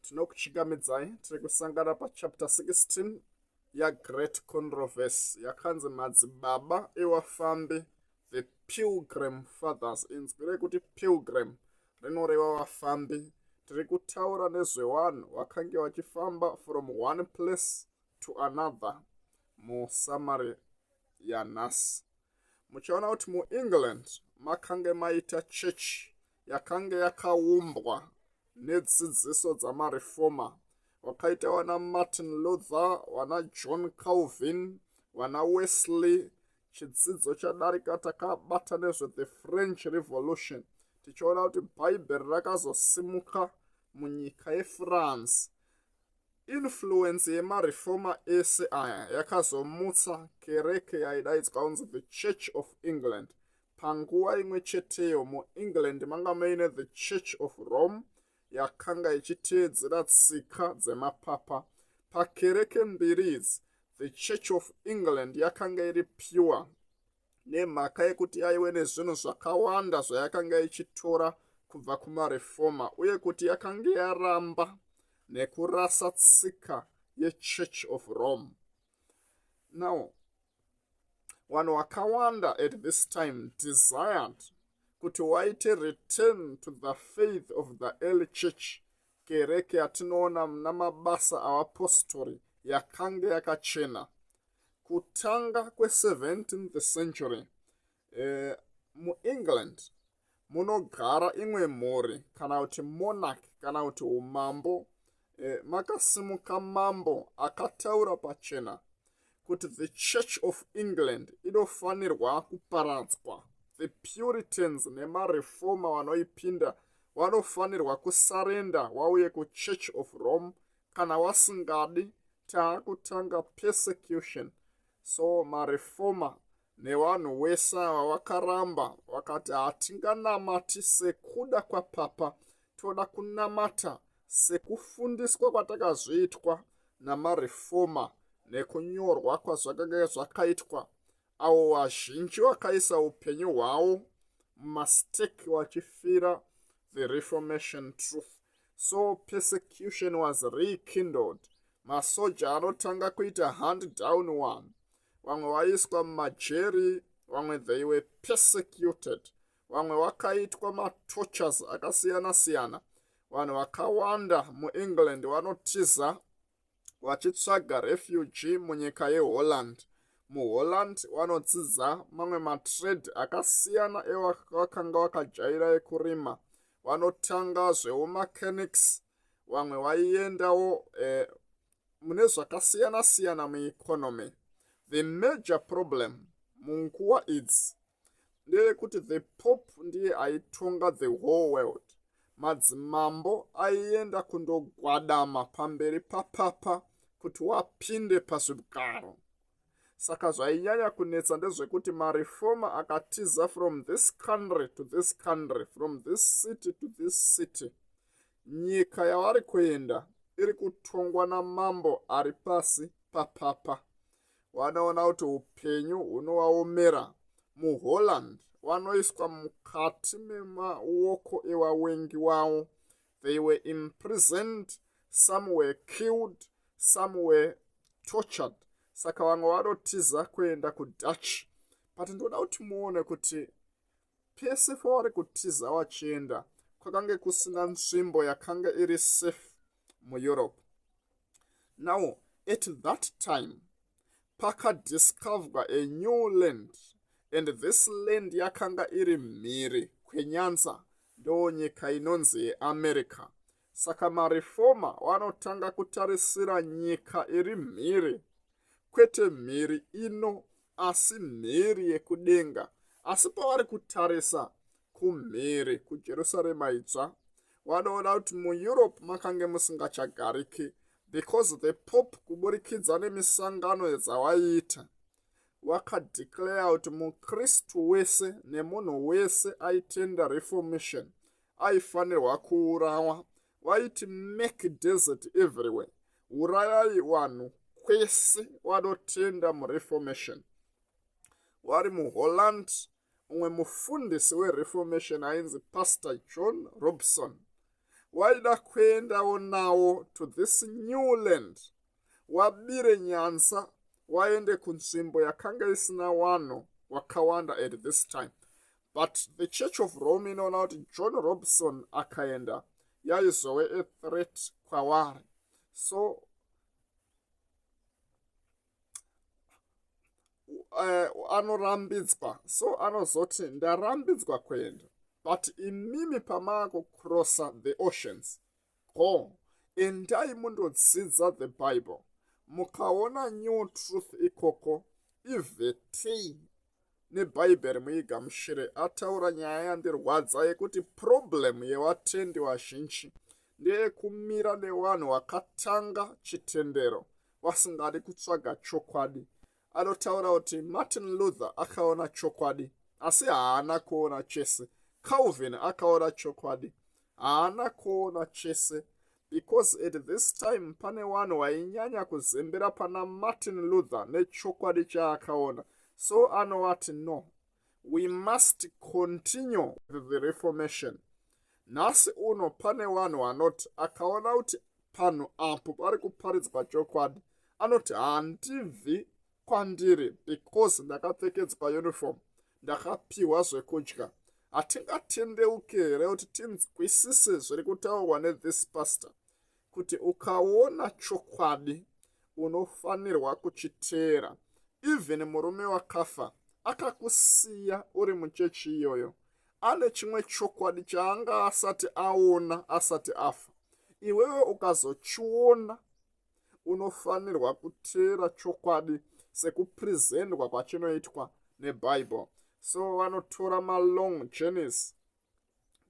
tinokuchingamidzai tiri kusangana pachapter 16 yagreat controversy yakanzi madzibaba ewafambi the pilgrim fathers inzwi rekuti pilgrim rinoreva vafambi tiri kutaura nezvevanhu vakange vachifamba from one place to another musamari yanhasi muchaona kuti muengland makange maita chechi yakange yakaumbwa nedzidziso dzamarefoma vakaita vana martin luther vana john calvin vana wesley chidzidzo chadarika takabata nezvethe french revolution tichiona kuti bhaibheri rakazosimuka munyika yefrance influence yemarefoma ese aya yakazomutsa kereke yaidaidzwa kunzi the church of england panguva imwe cheteyo muengland manga muine the church of rome yakanga ichiteedzera tsika dzemapapa pakereke mbiri idzi the church of england yakanga iri pure nemhaka yekuti yaive nezvinhu zvakawanda zvayakanga ichitora kubva kumarefoma uye kuti yakanga yaramba nekurasa tsika yechurch of rome now vanhu vakawanda at this time desired kuti waite return to the faith of the early church kereke yatinoona muna mabasa avapostori yakange yakachena kutanga kwe17th century eh, muengland munogara imwe mhuri kana kuti monarch kana kuti umambo e, makasimuka mambo akataura pachena kuti the church of england inofanirwa kuparadzwa the puritans nemareforma vanoipinda vanofanirwa kusarenda wauye kuchurch of rome kana wasingadi taakutanga persecution so mareforma nevanhu wese ava vakaramba vakati hatinganamati sekuda kwapapa toda kunamata sekufundiswa kwatakazoitwa namarefoma nekunyorwa kwazvakange zvakaitwa avo vazhinji vakaisa upenyu hwavo mumastake vachifira the reformation truth so persecution was rekindled masoja anotanga kuita hand down one vamwe vaiswa mumajeri vamwe they were persecuted vamwe vakaitwa matochers akasiyana siyana vanhu vakawanda muengland vanotiza vachitsvaga refuge munyika yeholland muholland vanodzidza mamwe matrade akasiyana evakanga vakajaira ekurima vanotanga zveumachanics vamwe vaiendawo eh, mune zvakasiyana siyana mueconomy the major problem munguva idzi ndeyekuti the pope ndiye aitonga the whole world madzimambo aienda kundogwadama pamberi papapa kuti wapinde pazvigaro saka zvainyanya kunetsa ndezvekuti marefoma akatiza from this country to this country from this city to this city Nyika yavari kuenda iri kutongwa namambo ari pasi papapa. Wanoona kuti upenyu hunowaomera. MuHolland wanoiswa mukati memaoko ewawengi wawo. They were imprisoned, some were killed, some were tortured. Saka vamwe vanotiza kuenda kuDutch. But ndoda kuti muone kuti pese pavari kutiza vachienda kwakange kusina nzvimbo yakanga iri safe mueurope now at that time pakadiscoverwa a new land and this land yakanga iri mhiri kwenyanza ndoo nyika inonzi yeamerica Saka marefoma wanotanga kutarisira nyika iri mhiri, kwete mhiri ino, asi mhiri yekudenga. Asi pavari kutarisa kumhiri kujerusarema itsva, wanoona kuti mueurope makange musingachagariki because the pope kuburikidza nemisangano dzawaiita wakadeclare kuti mukristu wese nemunhu wese aitenda reformation aifanirwa kuurawa vaiti make desert everywhere urayai vanhu kwese vanotenda mureformation vari muholland umwe mufundisi wereformation ainzi pastor john robson waida kuendawo nawo to this new land wabire nyanza waende kunzvimbo yakanga isina vanhu wakawanda at this time but the church of rome inoona kuti john robson akaenda yaizowe a threat kwavari so uh, anorambidzwa so anozoti ndarambidzwa kuenda but imimi pamaakukrossa the oceans ko endai mundodzidza the bible mukaona new truth ikoko ivetei nebhaibheri muigamushire ataura nyaya yandirwadza yekuti problem yevatendi vazhinji ndeyekumira nevanhu vakatanga chitendero vasingadi kutsvaga chokwadi anotaura kuti martin luther akaona chokwadi asi haana kuona chese calvin akaona chokwadi haana kuona chese because at this time pane vanhu vainyanya kuzembera pana martin luther nechokwadi chaakaona so anovati no we must continue the reformation nhasi uno pane vanhu vanoti akaona kuti panhu apo pari kuparidzwa chokwadi anoti handibvi kwandiri because ndakapfekedzwa uniform ndakapiwa zvekudya hatingatendeuke here kuti tinzwisise zviri kutaurwa nethis pastor kuti ukaona chokwadi unofanirwa kuchiteera even murume wakafa akakusiya uri muchechi iyoyo ane chimwe chokwadi chaanga asati aona asati afa iwewe ukazochiona unofanirwa kuteera chokwadi sekuprezendwa kwachinoitwa nebhaibheri so vanotora malong journeys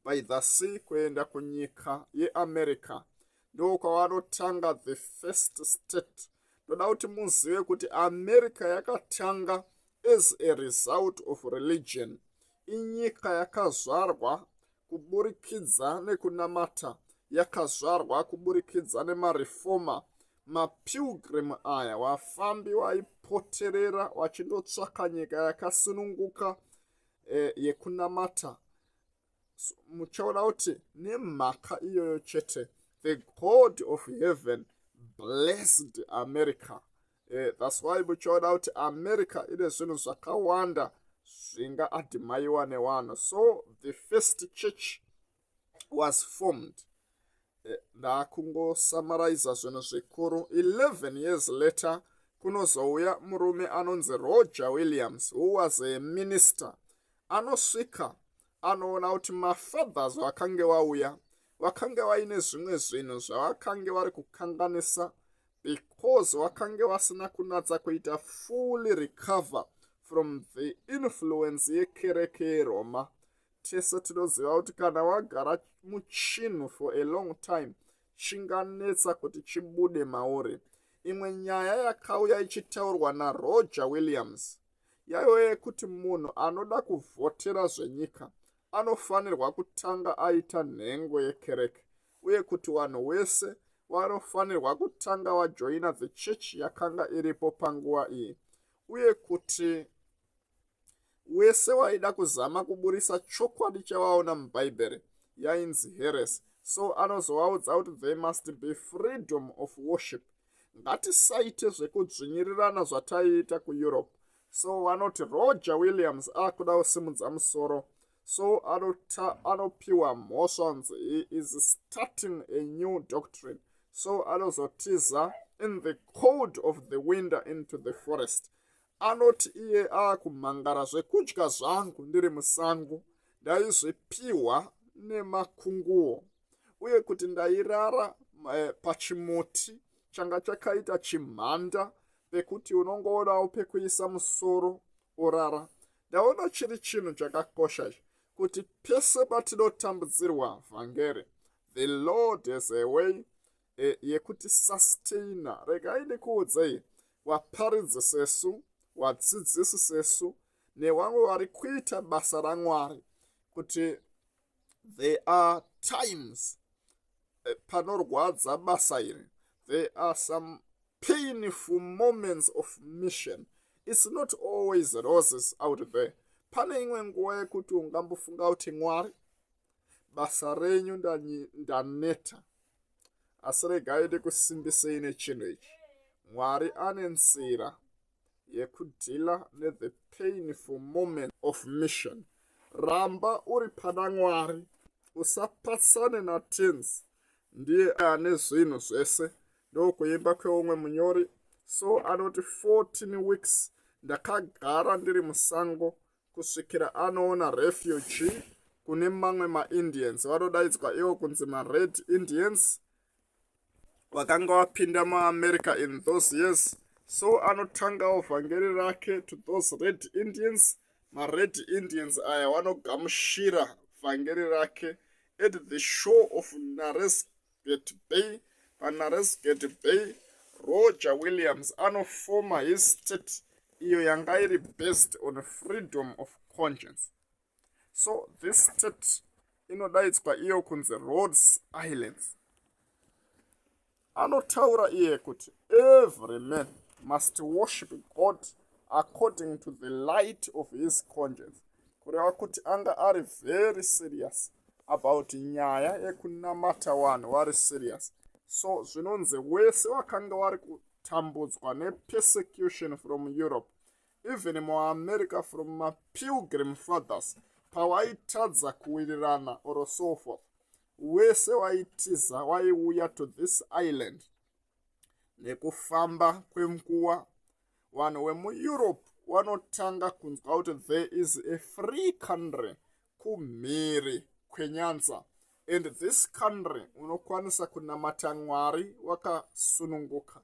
by the sea kuenda kunyika yeamerica ndokwavanotanga the first state ndoda kuti muzive kuti america yakatanga as a result of religion inyika yakazvarwa kuburikidza nekunamata yakazvarwa kuburikidza nemarefoma mapilgrim aya wafambi waipoterera wachindotsvaka nyika yakasununguka e, yekunamata so, muchaona kuti nemhaka iyoyo chete the god of heaven blessed america e, thats why muchaona kuti america ine zvinhu zvakawanda zvinga adhimaiwa newanhu so the first church was formed eh, ndakungosamaraiza zvinhu zvikuru 11 years later kunozouya murume anonzi roger williams who was a minister anosvika anoona kuti mafathers vakange wauya vakange vaine zvimwe zvinhu zvavakange vari kukanganisa because vakange vasina kunatsa kuita fully recover from the influence yekereke yeroma tese tinoziva kuti kana wagara muchinhu for a long time chinganetsa kuti chibude mauri imwe nyaya yakauya ichitaurwa naroger williams yaiva yekuti munhu anoda kuvhotera zvenyika anofanirwa kutanga aita nhengo yekereke uye kuti vanhu wese vanofanirwa kutanga vajoina the church yakanga iripo panguva iyi uye kuti wese waida kuzama kuburisa chokwadi chavaona mubhaibheri yainzi heresi so anozovaudza kuti they must be freedom of worship ngatisaite zvekudzvinyirirana zvataiita kueurope so vanoti roger williams akuda kusimudza musoro so anopiwa mhosva kunzi he is starting a new doctrine so anozotiza in the cold of the winter into the forest anoti iye aakumhangara zvekudya zvangu ndiri musango ndaizvipiwa nemakunguwo uye kuti ndairara eh, pachimuti changa chakaita chimhanda pekuti unongoonawo pekuisa musoro orara ndaona chiri chinhu chakakosha izvi kuti pese patinotambudzirwa vhangeri the lord has a way e, yekuti sustainer regai ndikuudzei waparidzi sesu wadzidzisi sesu nevamwe vari kuita basa ramwari kuti there are times eh, panorwadza basa iri there are some painful moments of mission its not always roses out there pane imwe nguva yekuti ungambofunga kuti mwari basa renyu ndaneta asi regai ndikusimbisei nechinhu ichi mwari ane nzira yekudhila nethe painful moment of mission ramba uri pana mwari usapatsane natens ndiye ane zvinhu zvese ndokuimba kweumwe munyori so anoti 14 weeks ndakagara ndiri musango kusvikira anoona refugee kune mamwe maindians vanodaidzwa ivo kunzi mared indians vakanga vapinda muamerica in those years so anotangawo vhangeri rake to those red indians mared indians aya vanogamushira vhangeri rake at the show of nares Gate Bay, Panares Gate Bay, Roger Williams anofoma his state iyo yanga iri based on freedom of conscience. So this state inodaidzwa iyo kunzi Rhodes Islands. Anotaura iye kuti every man must worship God according to the light of his conscience. kureva kuti anga ari very serious about nyaya yekunamata wanhu wari serious so zvinonzi wese wakanga wari kutambudzwa nepersecution from europe even muamerica from mapilgrim fathers pawaitadza kuwirirana or so forth wese waitiza waiuya to this island nekufamba kwenguva vanhu vemueurope vanotanga kunzwa kuti there is a free country kumhiri kwenyanza and this country unokwanisa kunamata mwari wakasununguka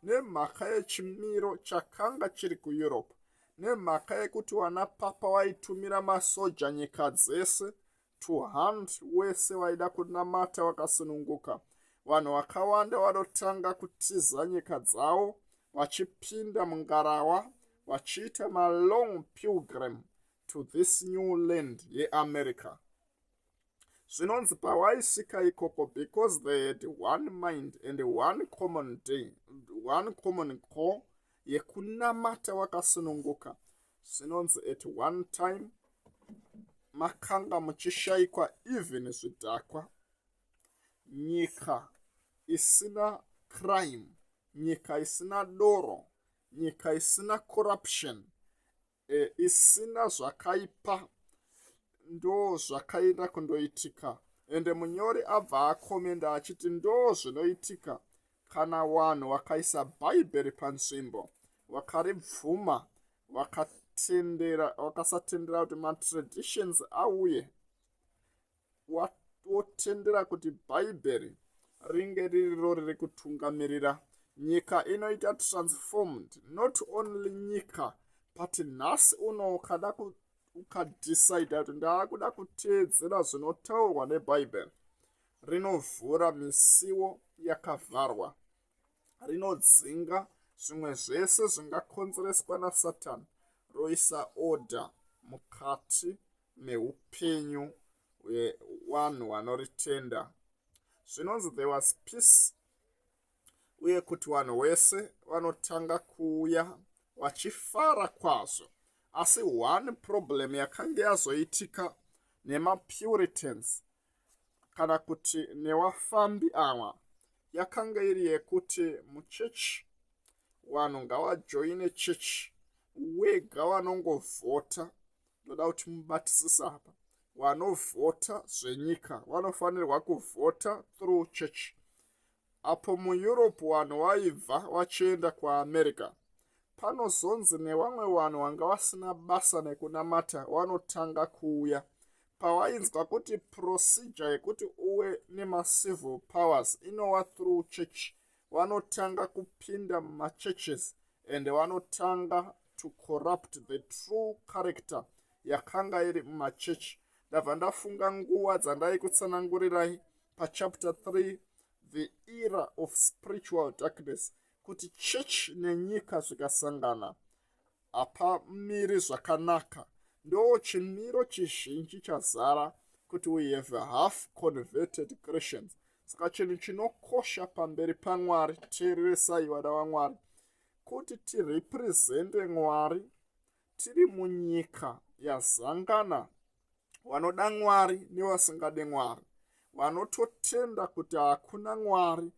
nemhaka yechimiro chakanga chiri kueurope nemhaka yekuti vana papa vaitumira masoja nyika dzese to hand wese waida kunamata wakasununguka vanhu vakawanda vanotanga kutiza nyika dzawo vachipinda mungarawa vachiita malong pilgrim to this new land yeamerica zvinonzi pawaisvika ikoko because they had one mind and one common day one common call yekunamata wakasununguka zvinonzi at one time makanga muchishaikwa even zvidhakwa nyika isina crime nyika isina doro nyika isina corruption e, isina zvakaipa ndo zvakaenda kundoitika ende munyori abva akomenda achiti ndo zvinoitika Kana wanhu wakaisa Bhaibheri panzvimbo, wakaribvuma, wakatendera, wakasatendera kuti matraditions auye, wotendera kuti Bhaibheri ringe ririro riri kutungamirira nyika inoita transformed not only nyika but nhasi uno ukada ukadecida kuti ndaakuda kuteedzera zvinotaurwa nebhaibheri rinovhura misiwo yakavharwa rinodzinga zvimwe zvese zvingakonzereswa nasatani roisa order mukati meupenyu hwevanhu vanoritenda zvinonzi there was peace uye kuti vanhu wese vanotanga kuuya vachifara kwazvo asi one problem yakange yazoitika nemapuritans kana kuti newafambi awa yakanga iri yekuti muchechi vanhu ngavajoine chechi wega vanongovhota ndoda kuti mubatisisa apa vanovhota zvenyika vanofanirwa kuvhota through chechi apo mueurope vanhu vaibva vachienda kuamerica panozonzi nevamwe vanhu vanga vasina basa nekunamata vanotanga kuuya pavainzwa kuti procedure yekuti uve nemacivil powers inova through church vanotanga kupinda mumachurches and vanotanga to corrupt the true character yakanga iri mumachechi ndabva ndafunga nguva dzandaikutsanangurirai pachapter 3 the era of spiritual darkness kuti church nenyika zvikasangana hapamiri zvakanaka ndo chimiro chizhinji chazara kuti we have half converted christians saka chinhu chinokosha pamberi pamwari teereresai vana vamwari kuti tirepresente mwari tiri munyika yazangana vanoda mwari nevasingade mwari vanototenda kuti hakuna mwari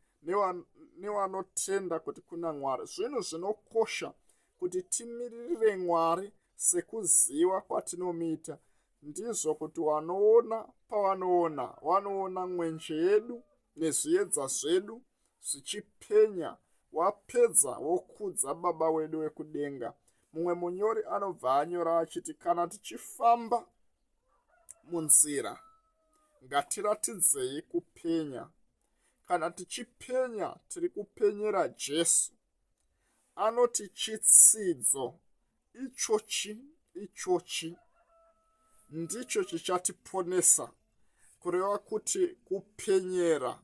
nevanotenda kuti kuna mwari zvinhu zvinokosha kuti timiririre mwari sekuziva kwatinomuita ndizvo kuti wanoona pavanoona wanoona mwenje yedu nezviedza zvedu zvichipenya wapedza wokudza baba wedu wekudenga mumwe munyori anobva anyora achiti kana tichifamba munzira ngatiratidzei kupenya kana tichipenya tiri kupenyera jesu anoti chitsidzo ichochi ichochi ndicho chichatiponesa kureva kuti kupenyera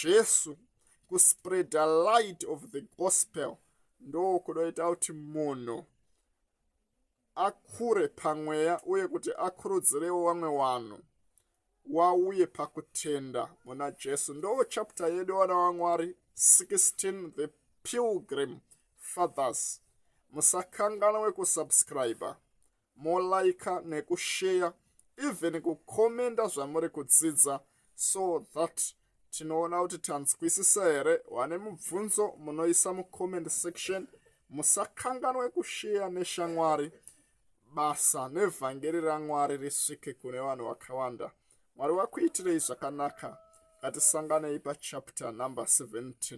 jesu kuspreada light of the gospel ndokunoita kuti munhu akure pamweya uye kuti akurudzirewo vamwe vanhu wauye pakutenda muna jesu ndo chapta yedu vana vamwari 16 the pilgrim fathers musakanganwe kusubscribe molaika nekusheya even kukomenda zvamuri kudzidza so that tinoona kuti tanzwisisa here wane mubvunzo munoisa mucomment section musakanganwe kusheya neshamwari basa nevhangeri ramwari risvike kune vanhu vakawanda mwari wakuitirei zvakanaka ngatisanganei pachapter number 17